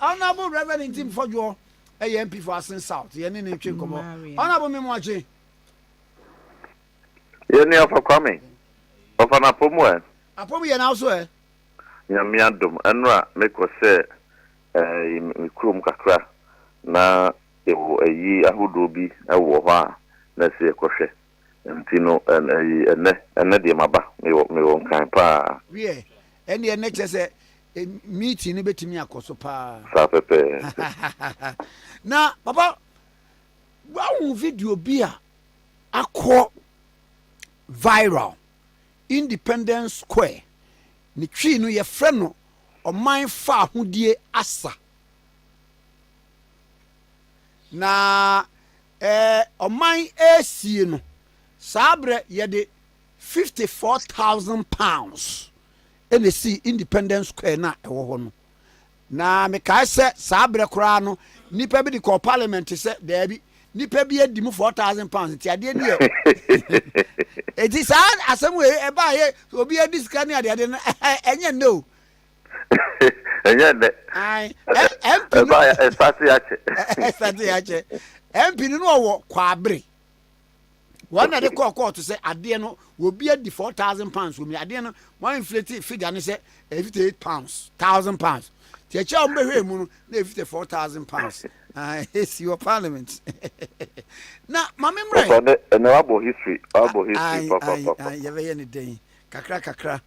Honorable Reverend Ntim Fodwoɔ ɛyɛ MP for Asin South yɛne ne ntwe nkɔmmɔ Honorable Memoakye Yɛne afa Kwame ɔfa no apɔ mu ɛ Apɔ mu yɛ n'awo so ɛ Nyame adom ɛnora mekɔ sɛ ɛɛ me kurom kakra na yɛwɔ ayi ahodoɔ bi ɛwɔ hɔ a na ɛsɛ yɛkɔhwɛ Nti no ɛn ɛyi ɛnnɛ, ɛnnɛ deɛ maba, mewɔ, mewɔ Nkran paa. Wiɛ, ɛndeɛ ɛnnɛ kyerɛ sɛ meeting no bɛtumi akɔ so paa. Saa pɛpɛɛpɛ. Na papa, woahu video bi a akɔ viral, Independence Square, ne Twi no yɛfrɛ no Ɔman Faahodie Asa. Na Ɛɛ ɔman ɛɛsie no saa berɛ yɛde fifty four thousand pounds ɛna ɛsii independence square no a ɛwɔ hɔ no na mekae sɛ saa berɛ koraa no nnipa bi de kɔɔ parliament sɛ daabi nnipa bi adi mu four thousand pounds nti adeɛ no yɛ ɛti saa asɛm wei ɛbaa yɛ obi adi sika ne adeade no ɛnyɛ nnɛ o ɛnyɛ nnɛ ɛbaayɛ ɛsate akyɛ ɛsate akyɛ MP no no ɔwɔ kwabere wɔn na de kɔɔ kɔɔto sɛ adeɛ no obi adi four thousand pounds wɔn mu adeɛ no wɔn inflate figure no sɛ fifty eight pounds thousand pounds te ɛkyɛ a wɔn bɛhwɛ mu no na fifty four thousand pounds esi wɔ parliament na maame mmerɛ. papa ne ɛna wabɔ history wabɔ history papa papa. yɛbɛyɛ ne dɛn kakra kakra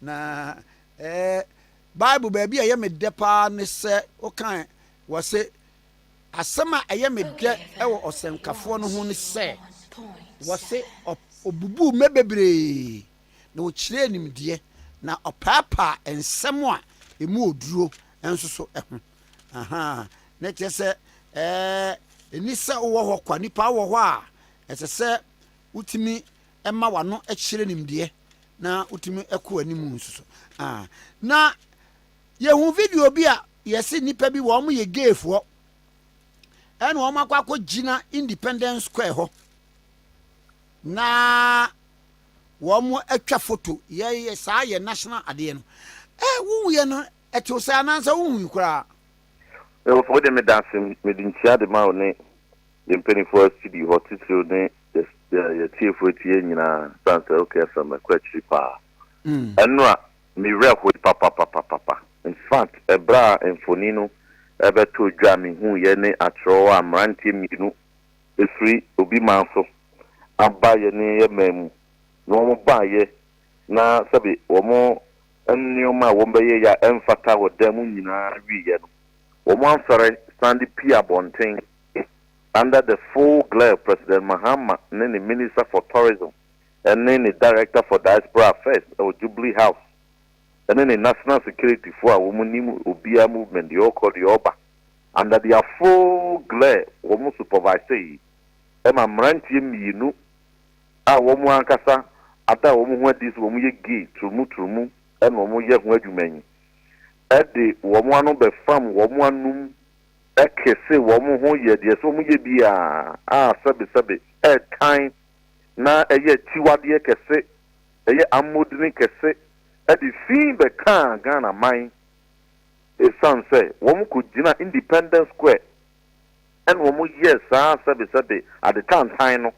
na. Ɛɛ, Bible baabi a ɛyɛ me dɛ paa ne sɛ wokae wɔ se, Asɛm a ɛyɛ me dɛ wɔ ɔsɛnkafoɔ no ho ne sɛ, wɔ se, Ɔbubuu mmɛ bebree, na ɔkyerɛɛ nimdeɛ, na ɔpaapaa nsɛm a ɛmu ɔduro nso so ho. Ahaa, na ɛkyerɛ sɛ, ɛɛ, ɛnni sɛ wowɔ hɔ kwa, nnipa wɔ hɔ a ɛsɛ sɛ wotumi ɛma w'ano kyerɛ nimdeɛ na wotumi kɔ anim nso so. Ah, na yɛhu video bi a yɛse nnipa bi wɔn yɛ gayfoɔ ɛna wɔn akɔ akɔgyina Independence Square hɔ na wɔn atwa foto yɛyɛ saa yɛ national adeɛ no. Eh, wohu yɛ no Ɛte wo sɛ anaasɛ wonhui koraa? Ɛwɔ sɛ wode me da ase, mede nkyia de ma wo ne yɛn mpanimfoɔ a studio hɔ titiriw ne yɛn atiefo eti yɛn nyinaa esiane sɛ okay FM ɛkɔ akyiri paa ɛno a me werɛ hoe papapapapa in fact ɛberɛ a mfoni no ɛbɛtoo dwa me huuiɛ ne akyerɛw a mmeranteɛ mmienu ɛfiri obi man so aba yɛne yɛ man mu na wɔn baayɛ na sɛbe wɔn nneɛma a wɔbɛyɛ yɛ a ɛmfata wɔ da mu nyinaa wieeɛ no, wɔansɔre san de pue abɔnten under the full glare of President Mahama ne ne Minister for Tourism ne ne Director for Diaspora Affairs wɔ Jubilee House ne ne National Security foɔ a wɔnim obiara movement deɛ ɔrekɔ deɛ ɔreba under their full glare wɔn superviseeɛ ma mmeranteɛ mmienu a wɔn ankasa ada wɔn ho adi sɛ wɔyɛ gay turumuturumu na wɔyɛ ho adwuma yi de wɔn ano bɛfam wɔn anom kese wɔn ho yɛ deɛ ɛsɛ wɔyɛ biara a sɛbesɛbe ɛretan na ɛyɛ akyiwadeɛ kɛse, ɛyɛ ammɔdini kɛse de fi bɛkaa Ghana man esiane sɛ wɔkɔgyina Independence Square. ɛna wɔn yɛ saa sɛbesɛbe ade tantan no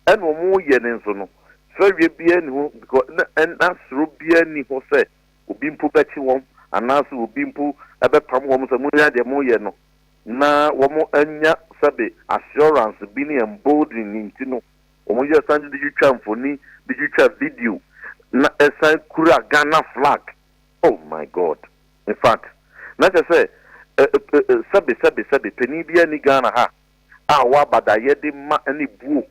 ɛna wɔn yɛ ne nso no fɛreɛ biara nni ho because na ɛna soro biara nni ho sɛ obi mpo bɛkye wɔn anaasɛ obi mpo ɛbɛpam wɔn sɛ monyɛ deɛ moyɛ no na wɔn anya sɛbe assurance bi ne embolden ne nti no wɔn yɛ san de twitwa mfoni de twitwa video na ɛsan kura Ghana flag oh my god. In fact, na kyerɛ sɛ eh-eh-eh, sɛbe, sɛbe, sɛbe, panin biara nni Ghana ha a ɔwɔ abadayɛ de ma ne buo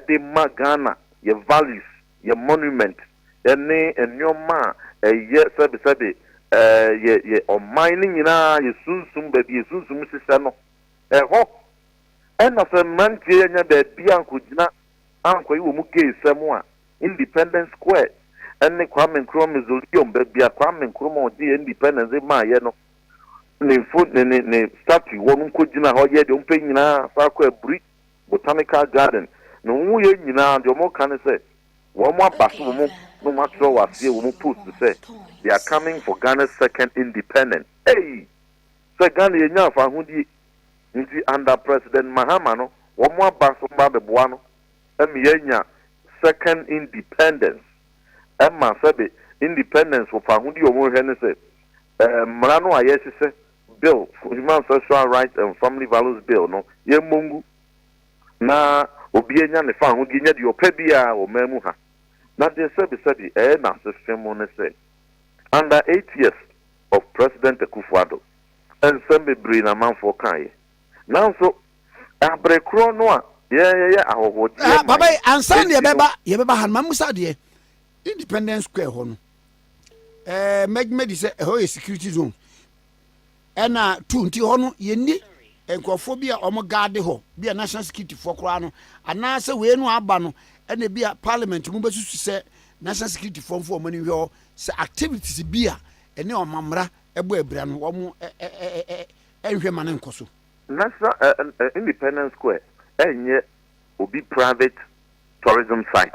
de ma Ghana, yɛn values, yɛn monument ne nnoɔma a ɛyɛ sɛbe, sɛbe, eh, yɛ, yɛ ɔman no nyinaa, yɛ sunsum, baabi yɛ sunsum hyehyɛ no, ɛhɔ na sɛ mmeranteɛ yi anya baabi ankɔgyina Ankoy wɔ mu gay sɛm a Independence Square ne Kwame Nkrumah Mausoleum, baabi a Kwame Nkrumah a ɔgyee independence de maaeɛ no, ne mfo ne ne ne statue wɔ no nkɔgyinaa hɔ yɛɛ deɛ wɔpɛ nyinaa san kɔ Aburi Botanical Garden. Ne ho yɛ nyinaa deɛ wɔka ne sɛ wɔaba so wɔn na wɔatwerɛ wɔ aseɛ wɔn post sɛ They are coming for Ghana's second independence. Ei! Sɛ Ghana yɛnyaa fahodie. Nti under President Mahama no wɔn aba so ba bɛboa no ma yɛanya second independence ɛma sɛbe independence wɔ faahodi a wɔhwɛ ne sɛ mmara no a yɛhyehyɛ bill Human Sexual Rights and Family Values Bill no yɛmmɔ ngu na obi anya ne faahodi anya deɛ ɔpɛ biara wɔ man mu ha. Na deɛ sɛbe sɛbe ɛyɛ n'asefem ne sɛ under eight years of President Akufo-Addo, nsɛm bebree na amanfoɔ kaeɛ. Nanso, bere korɔ no a yɛyɛ ahɔhoɔgyeɛ man Papa yi, ansa na yɛbɛba, yɛbɛba ha no, ma mmusa adeɛ. Independence Square hɔ no, ɛɛ mɛgyima di sɛ ɛhɔ yɛ security zone. Ɛna tu nti hɔ no yɛnni nkurɔfoɔ bi a wɔn gaade hɔ, bi a national security foɔ koraa no, anaasɛ wei no aba no, ɛna bi a parliament mu bɛsusu sɛ national security foɔ mfa wɔn ani nhwɛ hɔ sɛ activities bi a ɛne wɔn amammerɛ bɔ abira no, wɔnhwɛ mma no nkɔ so. National Independence Square nyɛ obi private tourism site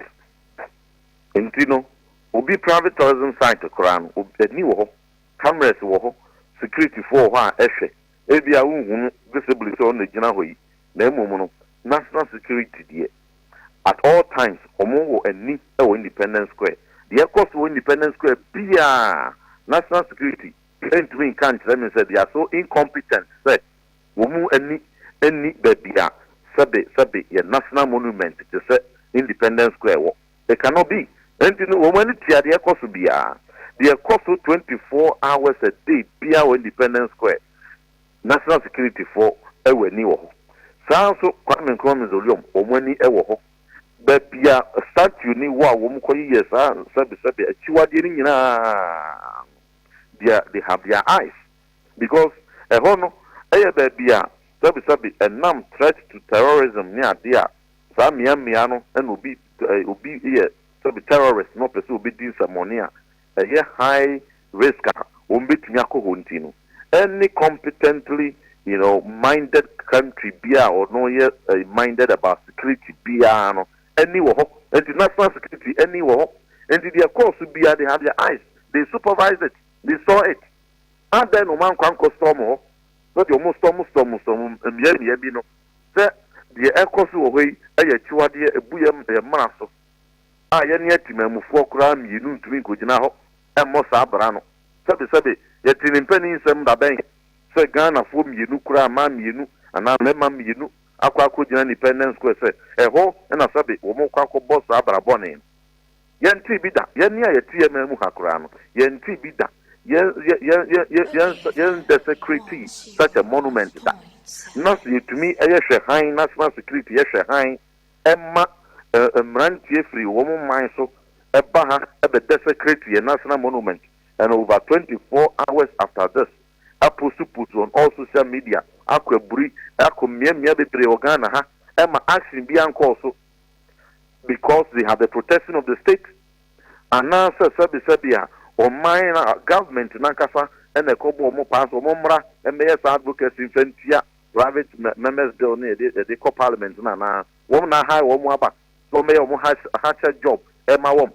nti no, obi private tourism site koraa no, ani wɔ hɔ, cameras wɔ hɔ, securityfoɔ wɔ hɔ a ɛhwɛ Ebia wonhu no visibly sɛ ɔno na egyina hɔ yi, na mmom no, National Security deɛ, at all times wɔwɔ ani wɔ Independence Square. Deɛ ɛkɔ so wɔ Independence Square biara, National Security ntumi nka nkyerɛ me sɛ they are so incompetent sɛ wɔn ani nni baabi a sɛbe sɛbe yɛ National Monument te sɛ Independence Square wɔ. They cannot be. Enti no wɔn ani tua deɛ ɛkɔ so biara. Deɛ ɛkɔ so twenty four hours a day biara wɔ Independence Square, National Security foɔ wɔ ani wɔ hɔ. Saa ara nso Kwame Nkrumah Mausoleum, wɔn ani wɔ hɔ. Baabi a statue no wɔ a wɔkɔyeyɛɛ saa sɛbesɛbe akyiwadeɛ no nyinaa no, deɛ they have their eyes because ɛhɔ no yɛ baabi a sɛbesɛbe ɛnam threat to terrorism ne adeɛ a Saa mmea mmea no na obi obi yɛ sɛbi terrorist na ɔpɛ sɛ obedi nsɛmmɔne a ɛyɛ high risk a wɔn betumi akɔ hɔ nti no, any competently you know minded country bi a ɔno yɛ minded about security biara no ani wɔ hɔ. Nti national security ani wɔ hɔ. Nti deɛ ɛkɔɔ so biara they have their eyes, they supervise it, they saw it. Adɛn na wɔn ankɔ ankɔ storm hɔ? Sɛdeɛ wɔn storm storm storm mmea mmea bi no, sɛ deɛ ɛrekɔ so wɔ hɔ yi yɛ akyiwadeɛ a ɛbu yɛn mmara so a yɛne atemammufoɔ koraa mmienu ntumi nkɔgyina hɔ mmɔ saa bra no. Sɛbesɛbe, yɛtee ne mpanin nsɛm da bɛn sɛ Ghanafoɔ mmienu koraa, mmaa mmienu anaa mmarima mmienu akɔ akɔgyina Independence Square sɛ ɛhɔ na sɛbe wɔrekɔ akɔbɔ saa bra bɔne no. Yɛntee bi da. Yɛn nne a yɛte yɛn man mu ha koraa no, yɛntee bi da. Yɛn, yɛn, yɛn, yɛn, yɛn, yɛn nsa, yɛn desecratee such a monument da. Na sɛ yɛtumi yɛ hwɛ hann, national security yɛ hwɛ hann ma eh, mmeranteɛ firi wɔn man so ba ha bɛ desecrate yɛn national monument and over 24 hours after this apost post on all social media akɔ aburi akɔ mmeammea bebree wɔ Ghana ha ɛma action bi ankɔɔ so. because they have the protection of the state anaasɛ sɛbesɛbe a ɔman na government nankasa na ɛkɔbɔ wɔn paa sɛ wɔn mmra mmɛyɛ saa advocacy mfa ntia private members bill no yɛde yɛde kɔ parliament no anaa wɔn na ahae wɔn aba sɛ wɔn bɛyɛ wɔn hakyɛ job ɛma wɔn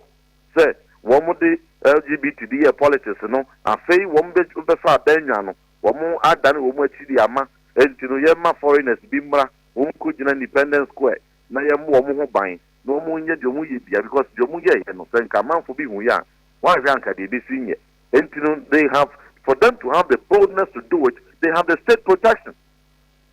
sɛ wɔn de LGBT de yɛ politics no afei wɔn bɛ bɛfa abɛnwa no Wɔn adane wɔn akyi de ama nti no yɛ ma foreigners bi mmra wɔn nkɔ gyina independence square na yɛ mmɔ wɔn ho ban na wɔn nyɛ deɛ wɔn yɛ biara because deɛ wɔn yɛɛyɛ no sɛ nka amanfo bi hu yɛ a wɔn anhwɛ anka deɛ ɛbɛsi nyɛ nti no they have for them to have the boldness to do it they have the state protection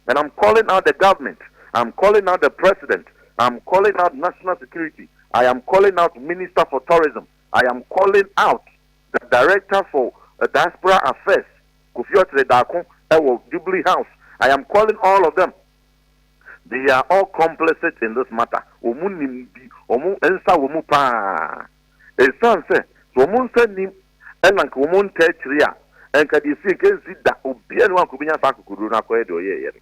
and I'm calling out the government I'm calling out the president I'm calling out national security I am calling out minister for tourism I am calling out The Director for Diaspora Affairs, Kofi Okyere Darko wɔ Jubilee House, I am calling all of them, they are all complicit in this matter, wɔn nim bi, wɔn nsa wɔ mu pa ara, ɛsiane sɛ sɛ wɔn nsa nnim na nka wɔn ntaa akyire a, nka deɛ ɛsii nka ɛnsi da, obiara nni hɔ a nka ɔbɛnya saa akokoduro no akɔyɛ deɛ ɔyɛeɛ no.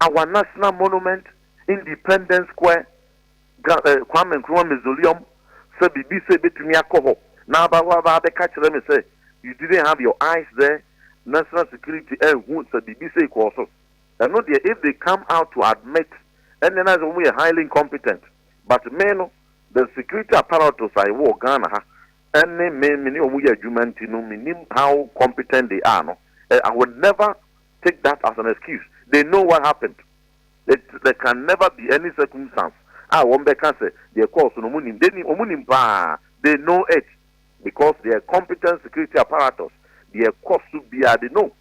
Our National Monument, Independence Square, Kwame Nkrumah Mausoleum, sɛ biribi sɛ ebetumi akɔ hɔ na aba hɔ aba abɛka akyerɛ me sɛ you didn't have your eyes there, national security anhu sɛ biribi sei kɔɔ so. Ɛno deɛ if they come out to admit ɛnneɛ na ayɛ sɛ wɔn yɛ highly incompetent. But me no, the security apparatus a ɛwɔ Ghana ha ɛne me me ne wɔn yɛ adwuma nti no, mennim how competent they are no. I would never take that as an excuse, they know what happened, it there can never be any circumstance a wɔn bɛka sɛ deɛ ɛkɔɔ so no wɔn nim, they nim, wɔn nim paa, they know it because they are competent security apparatus, deɛ ɛkɔ so biara they know,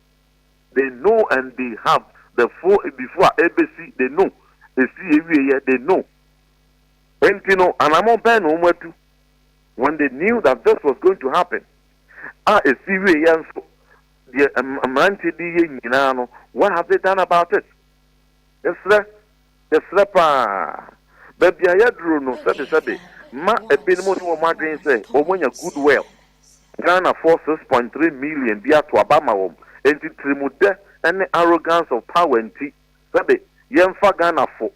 they know and they have the full before a ɛbɛsi they know, ɛsi ɛwieɛ they know. Enti no anamɔ bɛn na wɔn atu when they knew that this was going to happen a ɛsi wieɛ nso deɛ mmeranteɛ de yɛ nyinaa no, what have they done about it? Yɛsrɛ, yɛsrɛ paa. Baabi a yɛaduro no, sɛbesɛbe, ma ebinom ne wɔn adwene sɛ wɔanya good well. Ghanafoɔ six point three million bi ato aba ama wɔn, enti tirimudɛ ne arrogance of power nti, sɛbe, yɛmfa Ghanafo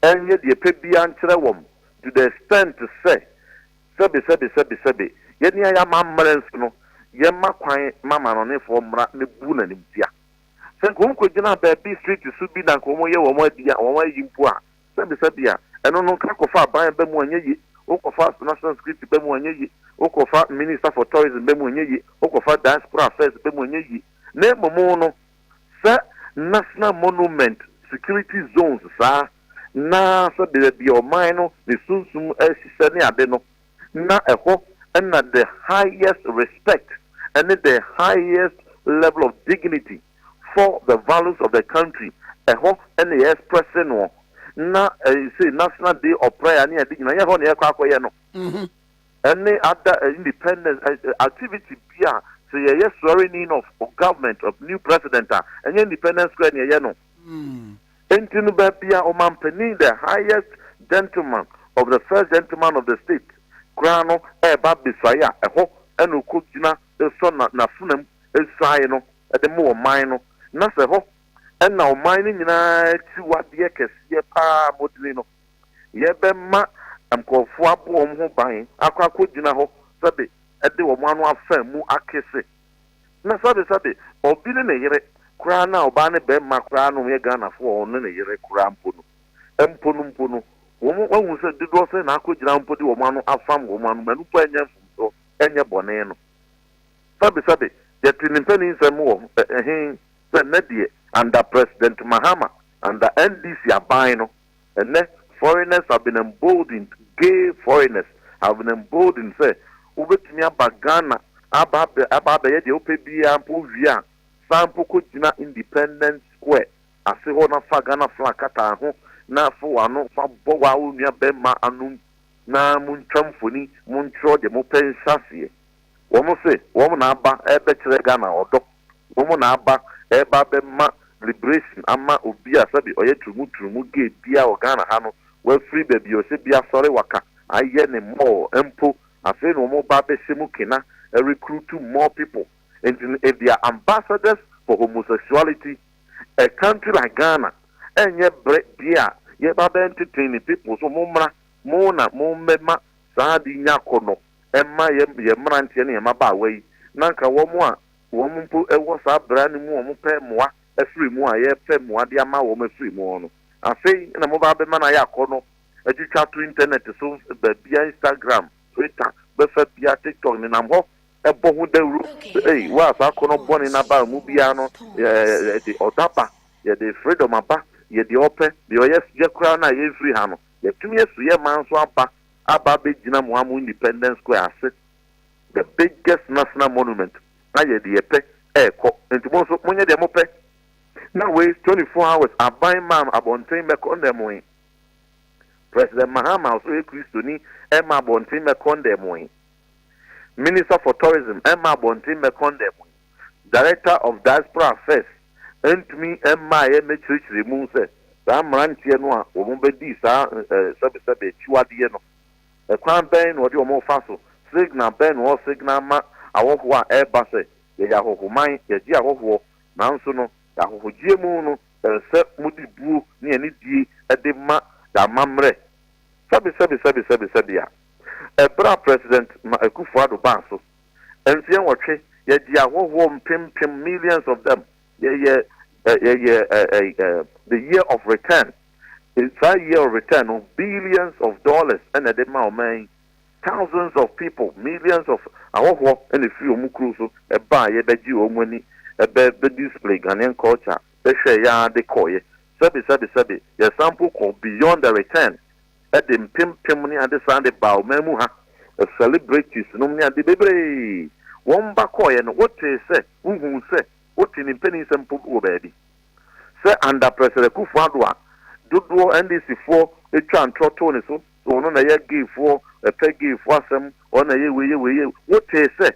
nyɛ deɛ ɛpɛ biara nkyerɛ wɔn to the extent sɛ, Sɛbe, sɛbe, sɛbe, sɛbe, yɛ nea yɛ amammerɛ nso no, yɛmma kwan ma amanɔnefoɔ mmra mmebu n'animtia. Sɛ anka wɔn kɔgyina baabi street so bi na anka wɔn yɛ wɔn adi a, wɔn ayi mpo a, sɛbe, sɛbe a, ɛno no nka kɔfa aban ba mu a ɛnyɛ ye, wo kɔfa national security ba mu a ɛnyɛ ye, wo kɔfa minister for tourism ba mu a ɛnyɛ ye, wo kɔfa diaspora affairs ba mu a ɛnyɛ ye, na mmom no, sɛ national monument security zones saa, na sɛ baabi a ɔman no ne sunsum ahyehyɛ ne ade no, na ɛhɔ na the highest respect ne the highest level of dignity for the values of the country, ɛhɔ na yɛɛsprɛse noɔ. Na ɛsei National Day of Prayer ne ade nyina, ɛnyɛ hɔ na yɛɛkɔ akɔyɛ no. Mm-hmm. Ɛne ada eh, independence eh, eh, activity bi a sɛ yɛyɛ swearing in of government of new president a, ɛnyɛ Independence Square na yɛyɛ no. Mm. Enti no baabi a ɔmanpanin, the highest gentleman of the first gentleman of the state, koraa no reba abesuae a, ɛhɔ na ɔkɔgyina sɔ na n'afenam nsuae no de ma ɔman no, na sɛ ɛhɔ na ɔman no nyinaa akyiwadeɛ kɛseɛ pa ara a modwene no, yɛbɛma nkurɔfoɔ abɔ wɔn ho ban akɔ akɔgyina hɔ sɛbe de wɔn ano afa mu akese. Na sɛbe sɛbe ɔbi ne ne yere koraa na ɔbaa ne bɛmma koraa no yɛ Ghanafoɔ a ɔne ne yere koraa mpo no, mpo no mpo no, wɔn wahu sɛ dodoɔ sɛn na akɔgyina mpo de wɔn ano afam wɔn ano ma ɛno mpo ɛnyɛ mfomsoɔ, ɛnyɛ bɔne no. Sɛbe sɛbe yɛte ne mpaninsɛm wɔ he sɛ nnɛ deɛ under President Mahama, under NDC aban no, Ɛnnɛ, foreigners have been emboldened, gay foreigners have been emboldened sɛ wobɛtumi aba Ghana aba abɛ aba abɛyɛ deɛ wopɛ biara mpo wowie a, san mpo kɔgyina Independence Square ase hɔ na fa Ghana flag kata ho na fa w'ano fa bɔ wo ara wo nua barima anom na montwa mfoni, montwerɛ deɛ mopɛ nhyɛaseɛ. Wɔn se wɔn na aba rebɛkyerɛ Ghana ɔdɔ, wɔn na aba reba abɛma liberation ama obi a sɛbe ɔyɛ turumu turumu gay biara wɔ Ghana ha no, wafiri baabi a ɔhyɛ biara asɔre waka ayɛ ne mall mpo, afei na wɔn reba abɛhyɛ mu kena recruitu more people. Nti no if they are ambassadors for homosexuality, a country like Ghana ɛnyɛ berɛ deɛ a yɛreba abɛnteten ne people so, mommra mo na mommɛma saa ade yi nya akɔnnɔ. ɛma yɛ yɛ mmeranteɛ ne yɛ mmabaawa yi na nka wɔn a wɔn mpo wɔ saa bra no mu wɔn pɛ mmoa afiri mu a yɛrepɛ mmoa de ama wɔn afiri mu no afei na mobaa bɛma no ayɛ akɔnɔ atwitwa to internet so baabia Instagram Twitter bɛfa bia TikTok nenam hɔ ɛbɔ ho dawuro ei waa saa akɔnɔ bɔne no aba mu biara no yɛde ɔdɔ aba yɛde freedom aba yɛde ɔpɛ deɛ ɔyɛ yɛ koraa no a yɛmfiri ha no yɛtumi asu yɛ man so aba aba abɛgyina mo amo independence square ase the biggest national monument na yɛde yɛ pɛ ɛrekɔ nti mo nso monyɛ deɛ mo pɛ na wei 24 hours aban maa no abɔnten mɛkɔ ndɛ mo he president mahama ɔso yɛ kristoni ɛma abɔnten mɛkɔ ndɛ mo he. Minister for Tourism mma abɔnten mmɛkɔn dan mu yi, Director of Diaspora Affairs ntumi mmaeɛ mmɛkyerɛkyerɛ mu sɛ saa mmeranteɛ no a wɔbɛdii saa sɛbesɛbe akyiwadeɛ no, kwan bɛn na wɔde wɔn refa so, signal bɛn na wɔ signal ma ahɔhoɔ a ɛreba sɛ yɛyɛ ahɔhoman, yɛgye ahɔhoɔ, nanso no yɛn ahɔhogyeɛ mu no ɛsɛ mode buo ne anidie de ma yɛn amammerɛ. Sɛbesɛbe sɛbesɛbe sɛbe a. Ɛberɛ a President Ma Akufo Addo baa so, mfeɛ nwɔtwe, yɛgyee ahɔhoɔ mpem mpem, millions of them, yɛyɛ eh, yɛyɛ eh, eh, eh, the year of return. Eh, Saa year of return no, billions of dollars ɛna ɛde ma ɔman yi. Thousands of people, millions of ahɔhoɔ ɛna ɛfiri wɔn kuro so ɛbaa yɛ bɛgye wɔn ani, ɛbɛ bɛ display Ghanaian culture, bɛhwɛɛ yɛ ara de kɔeɛ. Sɛbe, sɛbe, sɛbe, yɛsan mpo kɔ beyond the return. de mpempem ne ade san de baa ɔman mu ha, celebrities nom ne ade bebree, wɔn ba kɔɔeɛ no wotee sɛ wohuu sɛ wote ne mpaninsɛm mpo wɔ baabi sɛ under President Akuffo Addo a dodoɔ NDC foɔ twaa ntorɔ too ne so sɛ ɔno na ɛyɛ gay foɔ ɛpɛ gay foɔ asɛm ɔno na ɛyɛ wei yɛ wei yɛ wotee sɛ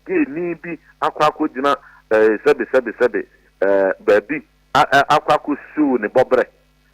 gay ni bi akɔ akɔ gyina eh, sɛbe sɛbe sɛbe eh, baabi a- a- akɔ akɔ siw ne bɔbrɛ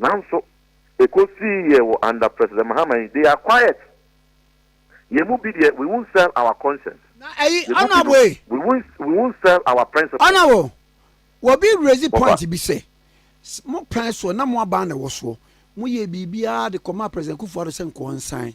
Nanso, ekosii yɛ wɔ under President Mahama yi, they are quiet. Yɛn mu bi deɛ, we won't sell our conscience. Na ɛyi, Yɛn mu bi no, Honourable, we won't, we won't sell our principles. Honourable, obi raise Wɔfa. point bi sɛ, s- mo pɛn soɔ na mo aban na ɛwɔ soɔ, mo yɛɛ biribiara de kɔmaa President Kufuor-Addo sɛ nkɔɔ nsan,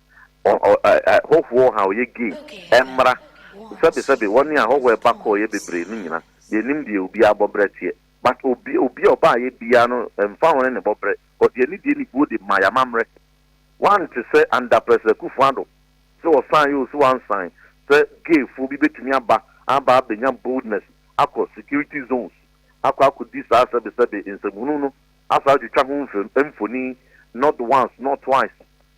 hɔhoɔ ɔha ɔyɛ gay ɛmmra sɛbe sɛbe wɔne ahɔhoɔ ɛba kɔ ɔyɛ bebree no nyina yɛnim deɛ obiara bɔbrɛ teɛ but obi obia ɔbaayɛ biara no ɛmfa ho ne ne bɔbrɛ but yɛne deɛ nibuo de ma yamamrɛ wante sɛ under president Akufo Addo sɛ ɔsan yɛ o sɛ wansan sɛ gay foɔ bi bɛtumi aba aba abɛnya boldness akɔ security zones akɔ akɔ di saa sɛbe sɛbe nsɛmhunu no asan atwitwa ho mfoni not once not twice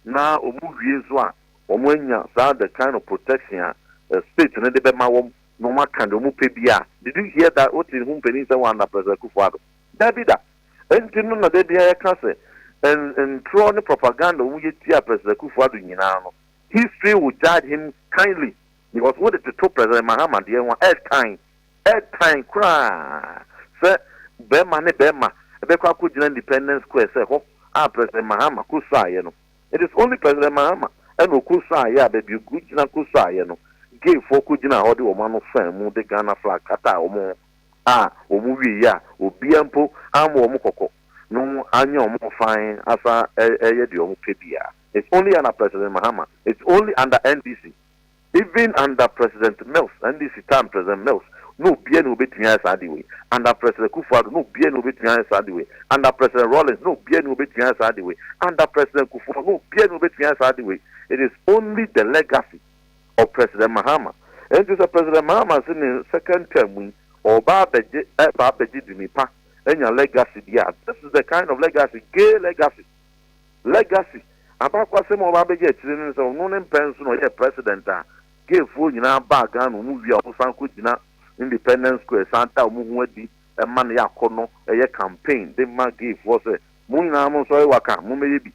na wɔn wie nso a wɔn anya saa the kind of protection a state no de bɛma wɔn na wɔn aka deɛ wɔn pɛ biara a, did you hear that wote ho mpanin sɛ wɔn under President Akufo-Addo? Dabi da! Ɛnti no na da biara yɛka sɛ n ntorɔ ne propaganda wɔn yɛ tia President Akufo-Addo nyinaa no history will judge him kindly. Because wo de toto President Mahama deɛ ho a, ɛtan, ɛtan koraa sɛ bɛɛma ne bɛɛma bɛkɔ akɔgyina Independence Square sɛ hɔ a President Mahama kɔsuaeɛ no, it is only President Mahama ɛna ɔkɔsuaeɛ a baabi ɔkɔgyina kɔsuaeɛ no, gay foɔ kɔgyinaa hɔ de wɔn ano faa mu de Ghana flag kataa wɔn ho a wɔn wieeɛ a obiara mpo ammɔ wɔn kɔkɔ no anyɛ wɔn fine asan ɛyɛ deɛ wɔn pɛ biara, it's only ɛna President Mahama, it's only under NDC. Even under President Mills, NDC time President Mills, na obiara ni obetumi ayɛ saa ade wei. Under President Kufuor-Addo, na obiara ni obetumi ayɛ saa ade wei. Under President Rawlings, na obiara ni obetumi ayɛ saa ade wei. Under President Kufuor, na obiara ni obetumi ayɛ saa ade wei. It is only the legacy of President Mahama. Enti sɛ President Mahama se ne second term mu yi, ɔreba abɛgye, ɛba abɛgye dini pa, anya legacy bi a, this is the kind of legacy, gay legacy. Legacy, abakɔsɛm a ɔba abɛgye akyire no ne sɛ ɔno ne mpɛn nson a ɔyɛɛ President a gayfoɔ nyinaa baa Ghana, wɔn wie a wɔn san kɔ gyina Independence Square san da wɔn ho adi ma no yɛ akɔnnɔ yɛ campaign de ma gayfoɔ sɛ mo nyinaa mo nsɔre waka, mo mmɛyɛ bi.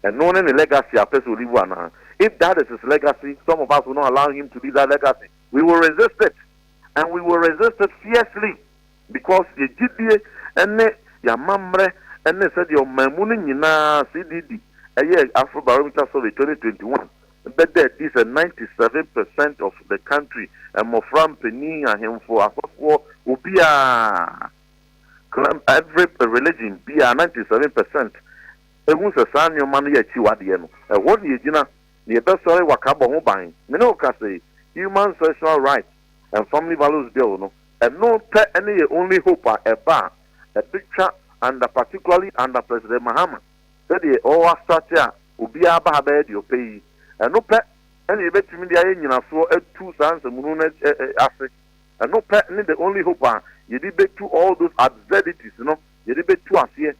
Ɛno ne ne legacy a ɔpɛ sɛ ɔlivu anaa? If that is his legacy, some of us will not allow him to leave that legacy. We will resist it and we will resist it fiercely. Because yɛ gyidie ne y'amammerɛ ne sɛdeɛ ɔmanmu no nyinaa, CDD, ɛyɛɛ Afrobarometer Survey twenty twenty one, bɛda adi sɛ ninety seven percent of the country, mmɔfra, mpanin, ahemfo, asɔfoɔ, obiara, claim every religion biara, ninety seven percent, ɛhu sɛ saa nneɛma no yɛ akyiwadeɛ no, ɛhɔ na yɛgyina na yɛbɛsɔre wakabɔ ho ban. Me ne wo ka sei, human sexual rights. Nfamily Values Bill no, ɛno pɛ ne yɛ only hope a ɛba a ɛbɛtwa under particularly under President Mahama sɛdeɛ ɔɔ astrate a obiara ba ha bɛyɛ deɛ ɔpɛ yi. Ɛno pɛ ne yɛbɛtumi de ayɛ nyinasoɔ atu saa nsɛmhunu no ase. Ɛno pɛ ne the only hope a yɛde bɛtu all those absurdities no, yɛde bɛtu aseɛ.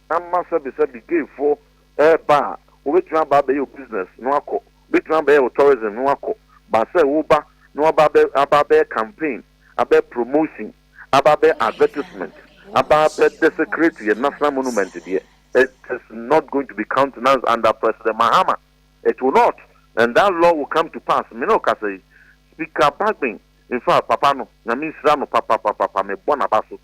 Ama sɛbesɛbe gayfoɔ ɛɛba a, wɔbɛtumi aba abɛyɛ business no akɔ Obetumi abɛyɛ wo tourism na woakɔ, but sɛ woba na woaba abɛ aba abɛyɛ campaign, abɛyɛ promotion, aba abɛyɛ advertisement, aba abɛ desecrate yɛn national monument deɛ, it is not going to be countenanced under President Mahama. It will not. And that law will come to pass. Me na ɔkasa yi. Speaker Bagbin, in fact, papa no, Nyame nhyira no papapapapa, mebɔ n'aba so.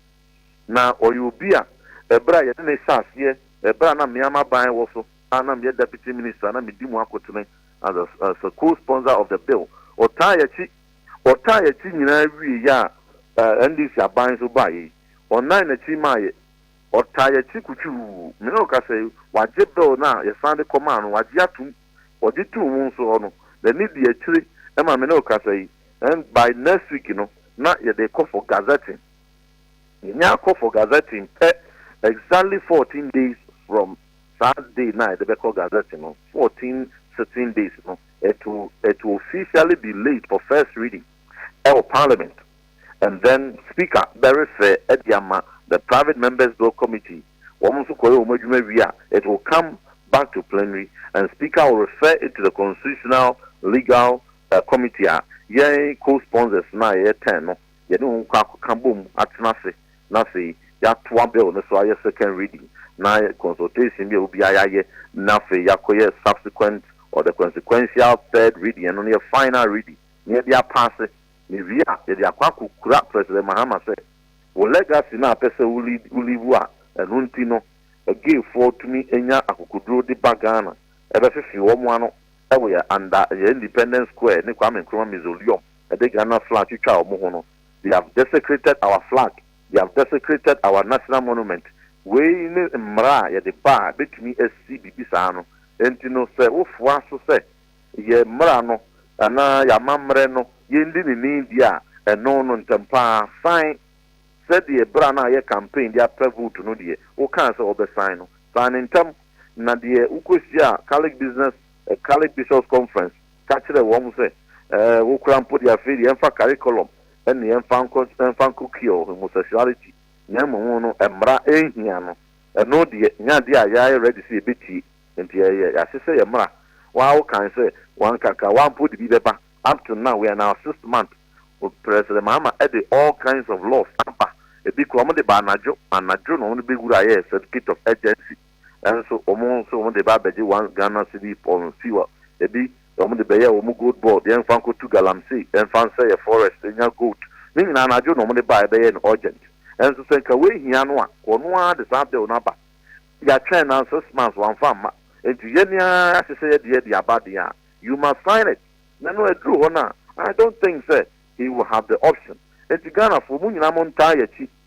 Na ɔyɛ obi a ɛberɛ a yɛde no hyɛɛ aseɛ, ɛberɛ a na mmeamaban wɔ so, a na meyɛ Deputy Minister na medi mu akotene as a as a co-sponsor of the bill. Ɔtaa yɛn akyi, ɔtaa yɛn akyi nyinaa wieeɛ a ɛɛ NDC aban nso baeɛ yi, ɔnan n'akyi maa yɛn. Ɔtaa yɛn akyi kutwuu. Me ne wo kasa yi, wagye bill no a yɛsan de kɔmaa no, wagye atom. Ɔgye too wo nso hɔ no, n'ani dii akyire ma me ne wo kasa yi. And by next week no, na yɛde rekɔ for gazetting. Yɛnya akɔ for gazetting pɛ, exactly fourteen days from Saa day no a yɛde bɛkɔ Gazette no, fourteen sitting days no, it will, it will officially be laid for first reading ɛwɔ Parliament and then Speaker bɛrefer de ama the Private Members Bill Committee, wɔn nso kɔyɛ wɔn adwuma wie a, it will come back to Plenary and Speaker will refer it to the Constitutional Legal Committee a yɛn co-sponsors no a yɛyɛ ten no yɛne wɔn kɔ akɔka bom atena ase na afei yɛatoa bill no so ayɛ second reading na consultation bi a obiara yɛayɛ na afei yɛakɔyɛ subsequent or the consequential third reading, ɛno no yɛ final reading na yɛde apaase na yɛwie a yɛde akɔ akɔkura President Mahama sɛ wo legacy no a wopɛ sɛ wo leave a ɛno nti no gayfoɔ tumi nya akokoduro de ba Ghana bɛfefe wɔn ano wɔ yɛn under yɛn Independence Square ne Kwame Nkrumah Mausoleum ɛde Ghana flag twitwaa wɔn ho no, they have desecrated our flag, they have desecrated our national monument, wei ne mmara a yɛde ba a bɛtumi asi biribi saa no, enti no sɛ wofoa so sɛ yɛn mmara no anaa yɛn amammerɛ no yɛndi ne ni deɛ a, ɛno no ntɛm pa ara san sɛdeɛ berɛ a na ayɛ campaign de apɛ vote no deɛ wokaa sɛ wobɛsan no, san no ntɛm na deɛ wokɔhyiaa Catholic Business, Catholic Bishops Conference, ka kyerɛɛ wɔn sɛ, Ɛɛ, wo koraa mpo deɛ, afei deɛ yɛmfa curriculum ne yɛmfa nkɔ, ɛmfa nkɔ cure homosexuality, na mmom wo no, mmara nhia no. Ɛno deɛ, nyɛ adeɛ a yɛayɛ ready sɛ yɛbɛtie. Enti ɛyɛ yɛase sɛ yɛ mmara. Wo ara wo kae sɛ, wanka ka, wo ara mpo wode bi bɛba. Up to now, we are in our sixth month, President Mahama de all kinds of laws aba. Ɛbi koraa, wɔde ba anadwo, anadwo na wɔde bɛwura yɛ Certificate of Urgency. Nanso wɔn nso wɔn de ba abɛgye one Ghana cedi pɔw no fi hɔ. Ebi wɔn de bɛyɛ wɔn gold board, yɛn nfa nkɔ tu galamsey, yɛn nfa nsɛ yɛ forest nya gold. Ne nyinaa no adwo na wɔn de ba a ɛbɛyɛ no urgent. Nanso sɛ nka wei hia no a, ɔno ara de saa bill no aba. Yɛatwɛn na six months wɔamfa amma. Enti yɛn ara yɛahyehyɛ yɛn deɛ de aba deɛ a, you must sign it. Na no ɛduru hɔ no a, I don't think sɛ he will have the option. Enti Ghanafoɔ mo nyinaa mo ntaa yɛn akyi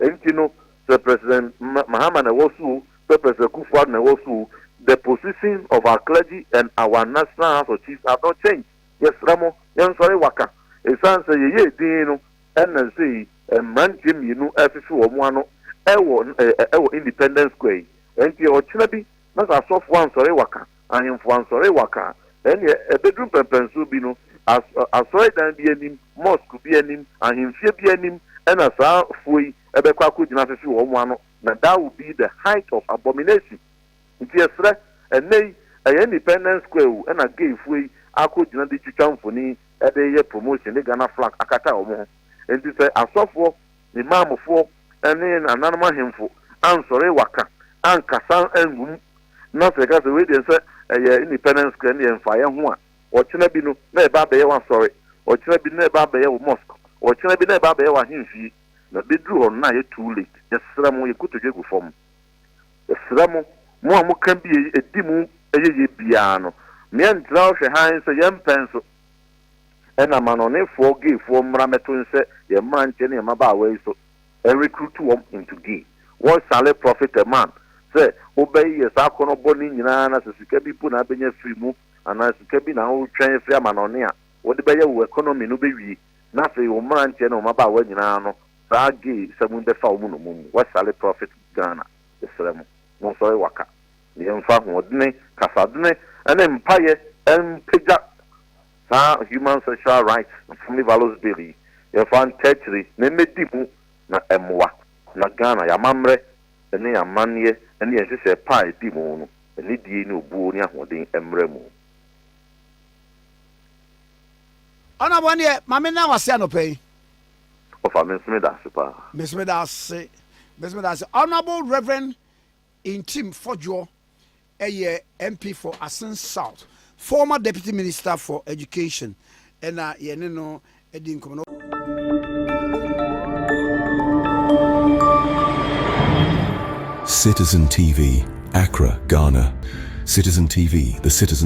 Enti no, sɛ President Mahama na ɛwɔ so o, sɛ President Kufuor na ɛwɔ so o, the position of our clergy and our National House of Chiefs have not changed. Yɛsrɛ mo, yɛnsɔre waka. Esiane sɛ yɛyɛɛ dinn no na nsɛ yi mmeranteɛ mmienu refefe wɔn ano wɔ Independence Square yi. Enti ɔkyena bi na sɛ asɔfoɔ ansɔre waka, ahemfo ansɔre waka a, ɛnneɛ ɛbɛduru mpɛnpɛnsoɔ bi no, as, asɔredan bi anim, mosque bi anim, ahemfie bi anim na saa foɔ yi bɛkɔ akɔgyina afefe wɔ wɔn ano, na that will be the height of abomination. Nti yɛsrɛ, ɛnnɛ yi, ɛyɛ Independence Square o, ɛna gay foɔ yi akɔgyina de twitwa mfoni de yɛ promotion de Ghana flag akata wɔn ho. Nti sɛ asɔfoɔ, ne maamefoɔ ne nananom ahemfo ansɔre waka ankasa angu mu, na sɛ yɛka sɛ wei deɛ sɛ ɛyɛ independence square no yɛ mfa yɛn ho a, ɔkyena bi no na ɛba abɛyɛ w'asɔre, ɔkyena bi no na ɛba abɛyɛ wo mosque, ɔkyena bi na ɛba abɛyɛ w'ahemfie. Na bɛduru hɔ no na ayɛ too late. Yɛsrɛ mo, yɛn kotodwe gu fam. Yɛsrɛ mo, mo a moka bi a ɛdi mu yɛyɛ biara no, meɛntra hɔ hwɛ hann sɛ yɛmpɛ nso. Ɛna amanɔnefoɔ gayfoɔ mmra mɛto nhyɛ yɛn mmeranteɛ ne yɛn mmabaawa yi so ɛrecruit wɔn into gay. What shall it profit a man sɛ wobɛyeyɛ saa akɔnnɔ bɔne nyinaa na sɛ sika bi mpo na abɛnya firi mu anaa sika bi na woretwɛn afiri amanɔne a wode bɛyɛ wo economy no bɛwie na afei wo mmeranteɛ ne wo mmabaawa nyinaa no saa gay sɛm yi bɛfa wɔn nnommum mu. What shall it profit Ghana? Yɛsrɛ mo monsɔre waka. Yɛmfa ahoɔdene, kasadene, ne mpaeɛ mpagya saa Human Sexual Rights Family Violence Bill yi, yɛmfa ntaa akyire na ɛmmɛdi mu na ɛmmoa na Ghana, yɛn amammerɛ ne yɛn amanneɛ ne yɛn nhyehyɛɛ pa a ɛdi mu no, anidie ne obuo ne ahoɔden mmra mu. Ɔnabɔ ɛneɛ ma me na wase anɔpa yi. Ɔfa me nso meda ase paa. Me nso meda ase. Me nso meda ase. Honourable Rev. Nkyim Fodjour yɛ MP for Asin South, former Deputy Minister for Education na yɛne no di nkɔmmɔ no. Citizen TV, Accra, Ghana, Citizen TV, the citizen.